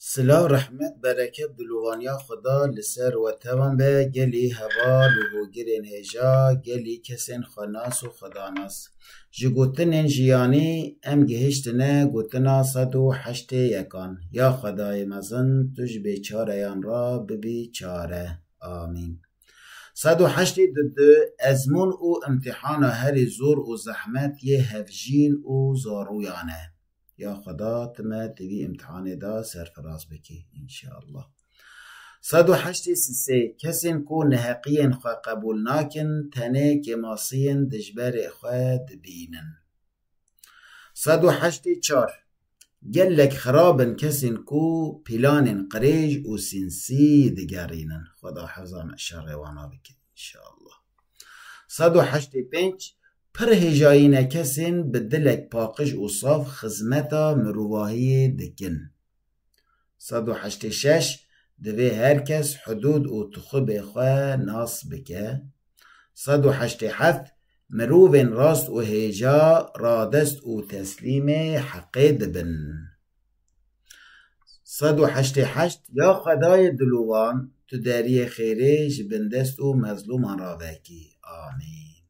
Silav rehmet bereket dilovaniya xwe da li ser we tevan be gelî heval û hogirên hêja gelî kesên xwenas û xwedanas ji gotinên jiyanî em gihiştine gotina sed û heştê yekan ya xwedayê mezin tu ji bêçareyan re bibî çare amîn sed û heştê du du ezmûn û îmtîhana herî zor û zehmet yê hevjîn û zarûyan e. Ya xweda tu me di vî îmtihanê de serfiraz bikî înşeallah. Sed û heştê sisê kesên ku neheqiyên xwe qebûl nakin tenê kêmasiyên dijberê xwe dibînin. Sed û heştê çar Gelek xirab in kesên ku pîlanên qirêj û sînsî digerînin. Xweda heza me şerê wana bike. Înşallah. Sed û heştê û pênc Pir hêjayîne kesên bi dilek paqij û saf xizmeta mirovahiyê dikin. Sed û heştê û şeş Divê her kes hudûd û tixubê xwe nas bike. Sed û heştê û heft Mirovên rast û hêja radest û teslîmê heqê dibin. Sed û heştê heşt Ya xwedayê dilûvan tu deriyê xêrê ji bin dest û mezlûman re vekî. Amîn.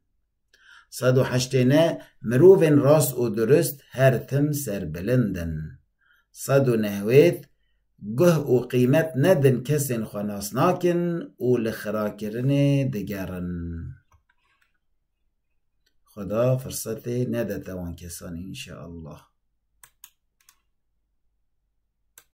Sed û heştê neh Mirovên rast û durist her tim serbilind in. Sed û newêd Guh û qîmet nedin kesên xwe nas nakin û li xirakirinê digerin. Xweda firsetê nede te wan kesan înşeallah.